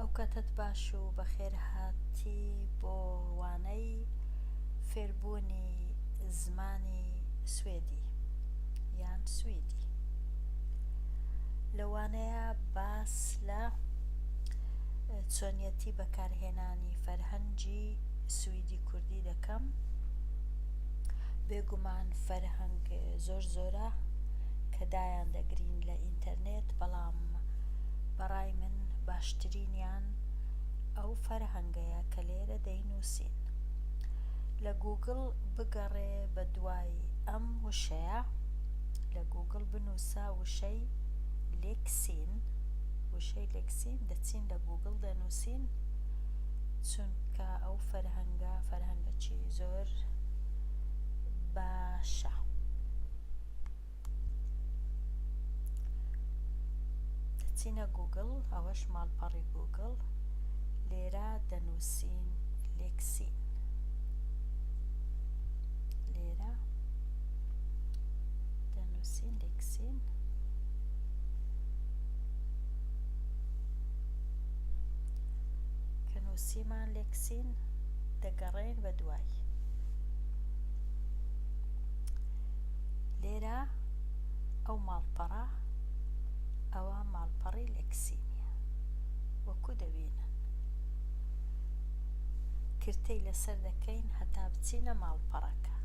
ئەوکاتەت باش و بەخێرهاتی بۆ وانەی فێربوونی زمانی سوێدی یان سویدی. لە وانەیە باس لە چۆنیەتی بەکارهێنانی فەرهەنگی سویدی کوردی دەکەم. بێگومان فەرهەنگ زۆر زۆرە کە دایان دەگرین لە ئینتەرنێت بەڵام بەڕای من باشترینیان ئەو فەرهەنگەیە کە لێرە دەینوسین لە گوگڵ بگەڕێ بە دوای ئەم وشەیە لە گوگڵ بنوسە وشەی لێکسین وشەی لێکسین دەچین لە گوگڵ دەنوسین چونکە ئەو فەرهەنگە فەرهەنگەکی زۆر باشە. دەچینە گوگڵ ئەوەش ماڵپەڕی گوگڵ لێرە دەنوسین لێکسین لێرە دەنوسین لێکسین کە نوسیمان لێکسین دەگەڕێن بە دوای لێرە ئەو ماڵپەڕە ئەوە ماڵپەڕی لەکسیمیە وەکو دەبینن کرتەی لەسەر دەکەین هەتا بچینە ماڵپەڕەکە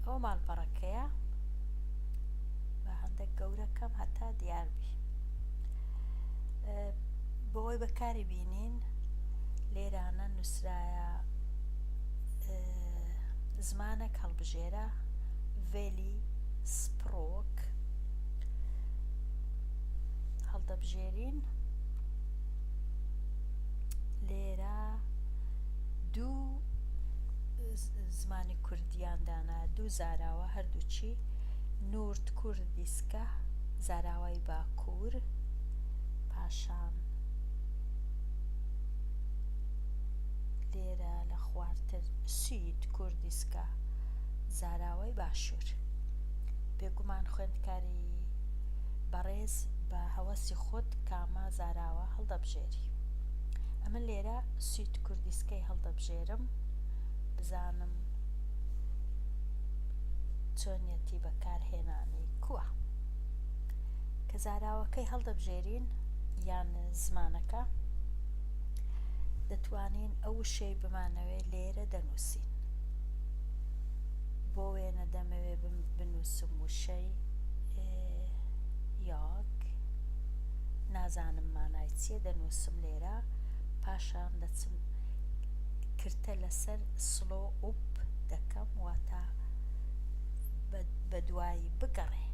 ئەو ماڵپەڕەکەیە بە هەندێک گەورەکەم هەتا دیاربی بۆی بەکاری بینین لێرانە نووسرایە زمانەک هەڵبژێرە ڤێلی سپڕۆک هەڵدەبژێرین لێرە دوو زمانی کوردیان دانا دوو زاراوە هەردووچی نورد کوردیسکە زاراوای باکوور پاشان لێرە لە خوارتر شیت کوردیسکە زاراوەی باشوور بێگومان خوێندکاری بەڕێز بە هەوەسی خۆت کامە زاراوە هەڵدەبژێری ئەمە لێرە شیت کوردیسکەی هەڵدەبژێرم بزانم چۆنیەتی بەکارهێنانی کووە کە زاراوەکەی هەڵدەبژێرین یان زمانەکە دەتوانین ئەو وشەی بمانەوێ لێرە دەنوسین بۆ وێنە دەمەوێ بنوسم وشەی یاک نازانم مانای چیە دەنوسم لێرە پاشان دەچم کرتە لەسەر سلۆ ئوپ دەکەم واتە بە دوایی بگەڕێ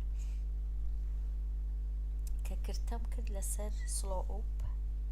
کە کرتەم کرد لەسەر سلۆ ئوپ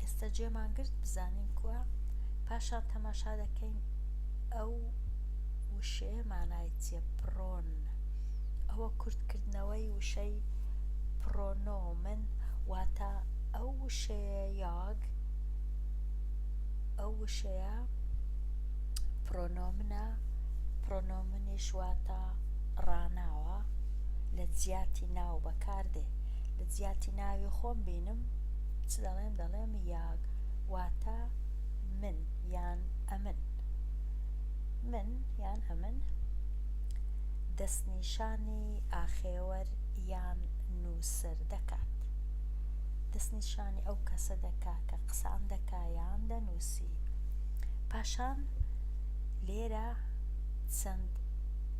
ئێستا جێمان گرت بزانین کوا پاشان تەماشا دەکەین ئەو وشەیە مانای چیە پرۆن ئەوە کورت کردنەوەی وشەی پرۆنۆمن واتە ئەو وشەیە یاگ ئەو وشەیە پرۆنۆمنە نیش واتە ڕاناوە لە جیاتی ناو بەکاردێ لە جیاتی ناوی خۆم بینم چ دەڵێم دەڵێم یاگ واتە من یان ئەمن من یان ئەمن دەستنیشانی ئاخێوەر یان نووسەر دەکات دەستنیشانی ئەو کەسە دەکا کە قسان دەکا یان دەنووسی پاشان لێرە چەند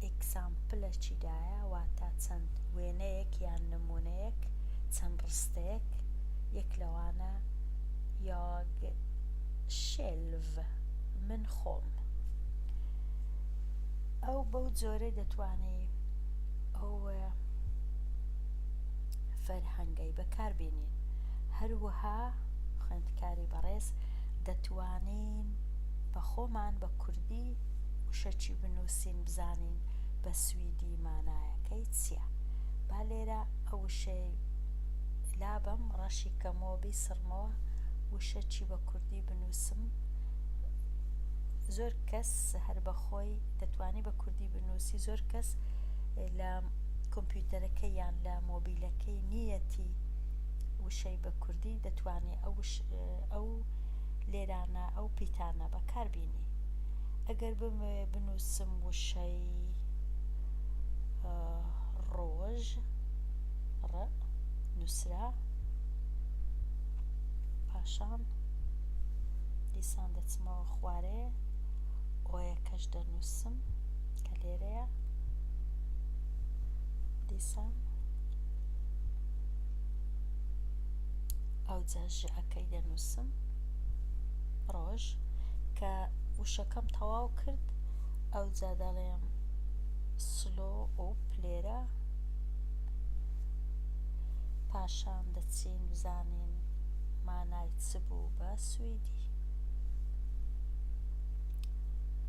ئیکزامپلەکی دایە واتا چەند وێنەیەک یان نمونەیەک چەند ڕستەیەک یەک لەوانە یاگ شێلڤ من خۆم ئەو بەو جۆرەی دەتوانی ئەو فەرهەنگەی بەکار بینین هەروەها خوێندکاری بەڕێز دەتوانین بە خۆمان بە کوردی وشە چی بنوسین بزانین بە سویدی مانایەکەی چیە با لێرە ئەو وشەی لابەم ڕەشی کەمەوە بیسڕمەوە وشە چی بە کوردی بنوسم زۆر کەس هەر بەخۆی دەتوانی بە کوردی بنوسی زۆر کەس لە کۆمپیوتەرەکە یان لە مۆبیلەکەی نیەتی وشەی بە کوردی دەتوانێت ئەو ئەو لێرانە ئەو پیتانە بەکار بینی ئەگەر بمەوێ بنوسم وشەی ڕۆژ ڕ نوسرا پاشان دیسان دەچمەوە خوارێ ئۆیەکەش دەنووسم کە لێرەیە دیسان ئەو جاژەکە ی دەنووسم ڕۆژ کە وشەکەم تەواو کرد ئەوجا دەڵێم سلۆ و پلێرە پاشان دەچین بزانین مانای چ بوو بە سویدی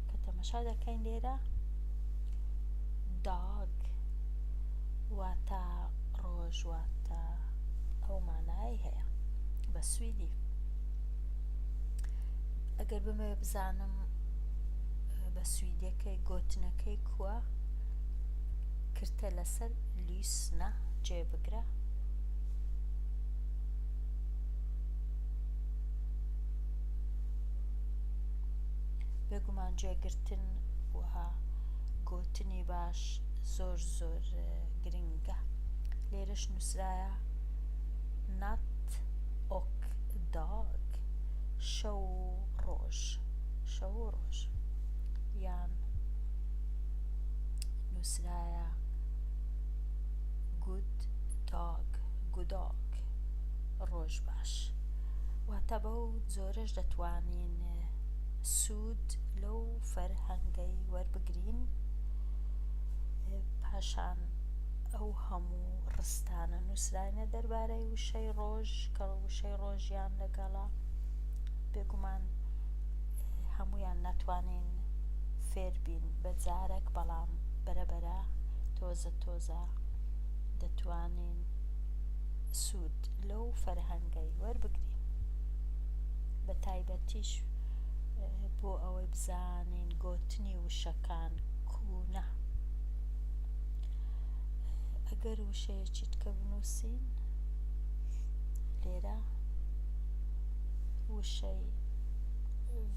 کە تەمەشا دەکەین لێرە داگ واتە ڕۆژ واتە ئەو مانایەی هەیە بە سویدی ئەگەر بمەوێ بزانم بە سویدەکەی گۆتنەکەی کووە کرتە لەسەر لیسنە جێ بگرە بێگومان جێگرتن وها گۆتنی باش زۆر زۆر گرنگە لێرەش نوسرایە Not ok dog شەو و ڕۆژ یان نوسرایە Good dog گودۆک ڕۆژ باش واتە بەو جۆرەش دەتوانین سود لەو فەرهەنگەی وەربگرین. پاشان ئەو هەموو ڕستانە نووسراینە دەربارەی وشەی ڕۆژ کە وشەی ڕۆژیان لەگەڵە، بێگومان هەموویان ناتوانین فێر بین بە جارەک بەڵام بەرە بەرە تۆزە تۆزە دەتوانین سوود لەو فەرهەنگەی وەربگرین بە تایبەتیش بۆ ئەوەی بزانین گۆتنی. بەکارهێنانی وشەکان کوونە ئەگەر وشەیەکی تکە بنوسین لێرە وشەی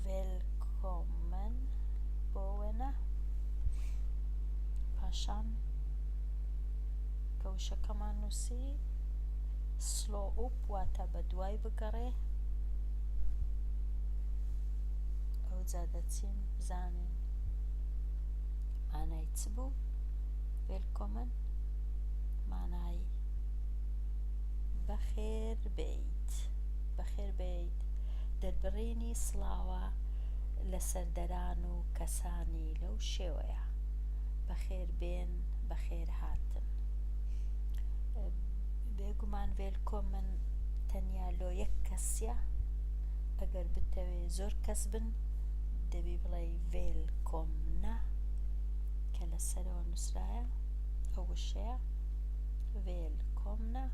ڤێلکۆمن بۆ وێنە پاشان کە وشەکەمان نووسی سلۆ ئوپ واتە بە دوای بگەڕێ ئەوجا دەچین بزانین مانای چ بوو وێلکۆمن مانای بەخێر بیت بەخێر بیت دەربڕینی سڵاوە لە سەردەران و کەسانی لەو شێوەیە بەخێر بێن بەخێر هاتن بێگومان وێلکۆمن تەنیا لۆ یەک کەسە ئەگەر بتەوێ زۆر کەس بن دەبی بڵێی ڤێل کۆم نە کە لە سەرەوە نوسرایە ئەو وشەیە ڤێل کۆم نە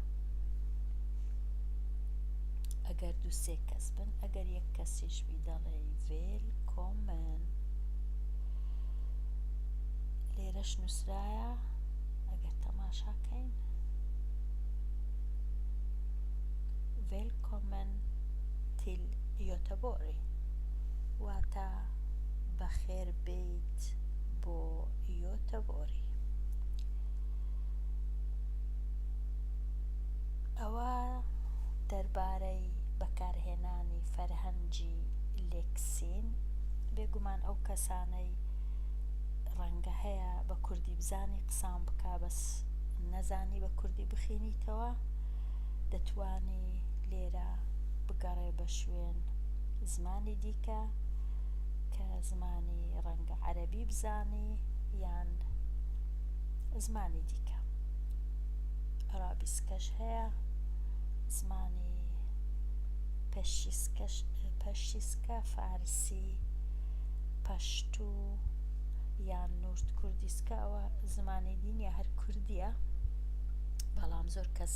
ئەگەر دوو سێ کەس بن ئەگەر یەک کەسیش بی دەڵێ ڤێل کۆمن لێرەش نووسرایە ئەگەر تەماشاکەین ڤێل کۆمن تیل یۆتەبۆری واتە، بەخێربێیت بۆ یۆتەبۆری. ئەوە دەربارەی بەکارهێنانی فەرهەنگی لێکسین. بێگومان ئەو کەسانەی ڕەنگە هەیە بە کوردی بزانی قسان بکا بەس نەزانی بە کوردی بخینیتەوە. دەتوانی لێرە بگەڕێ بە شوێن زمانی دیکە کە زمانی ڕەنگە عەرەبی بزانی یان زمانی دیکە ئەرابیسکەش هەیە زمانی پەشیسکەش پەشیسکە فارسی پەشتوو یان نورد کوردیسکە ئەوە زمانی دینیە هەر کوردیە بەڵام زۆر کەس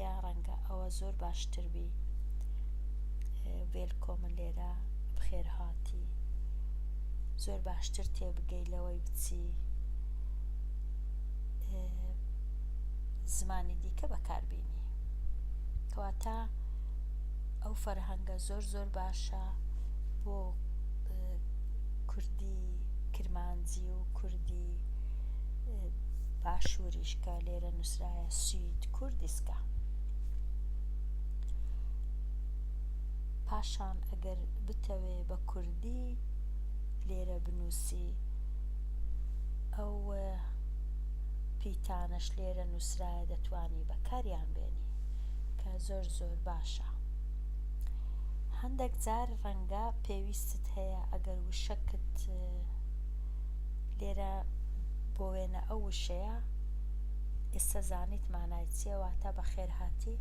یا ڕەنگە ئەوە زۆر باشتر بی وێلکۆمە لێرە بخێرهاتی زۆر باشتر تێبگەی لەوەی بچی زمانی دیکە بەکاربیینی کەواتە ئەو فەرهەنگە زۆر زۆر باشە بۆ کوردی کرمانجی و کوردی باشووریشکە لێرە نووس نوسرایە سوید کوردیسکە پاشان ئەگەر بتەوێ بە کوردی لێرە بنوسی ئەو پیتانەش لێرە نوسرایە دەتوانی بەکاریان بێنی کە زۆر زۆر باشە هەندێک جار ڕەنگە پێویستت هەیە ئەگەر وشەکت لێرە بۆ وێنە ئەو وشەیە ئیستە زانیت مانای چیە واتا بەخێرهاتی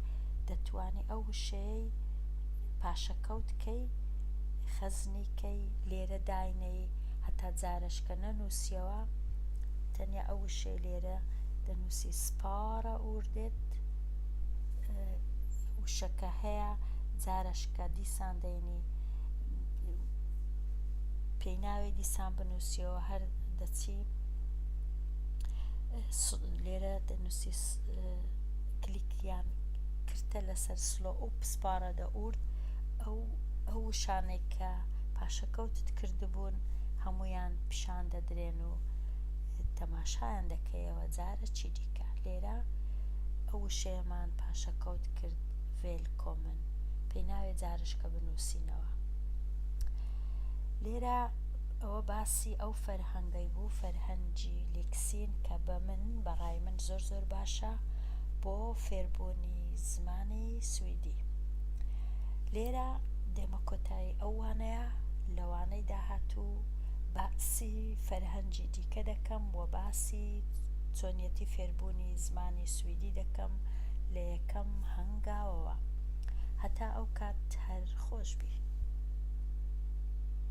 دەتوانی ئەو وشەیەی پاشەکەوت کەی خەزنی کەی لێرە داینێی هەتا جارەش کە نەنوسیەوە تەنیا ئەو وشەی لێرە دەنوسی سپارە ئوردت وشەکە هەیە جارەش کە دیسان دەینی پێی ناوێ دیسان بنوسیەوە هەر دەچی لێرە دەنوسی کلیک یان کرتە لەسەر سلۆ ئەو پسپارە دە ئورد ئەو ئەو شانێک کە پاشەکەوتت کردبوون هەمویان پیشان دەدرێن و تەماشایان دەکەیەوە جارە چی دیکە لێرە ئەو شێمان پاشەکەوت کرد ڤێل کۆمن پێناوێ جارشکە بنووسینەوە لێرە ئەوە باسی ئەو فەرهەنگەی بوو فەرهەنگی لیکسین کە بە من بە ڕای من زۆر زۆر باشە بۆ فێربوونی زمانی سویدی لێرە دێمە کۆتایی ئەو وانەیە لە وانەی داهاتوو باسی فەرهەنگی دیکە دەکەم وە باسی چۆنیەتی فێربوونی زمانی سویدی دەکەم لە یەکەم هەنگاوەوە هەتا ئەو کات هەر خۆشبی.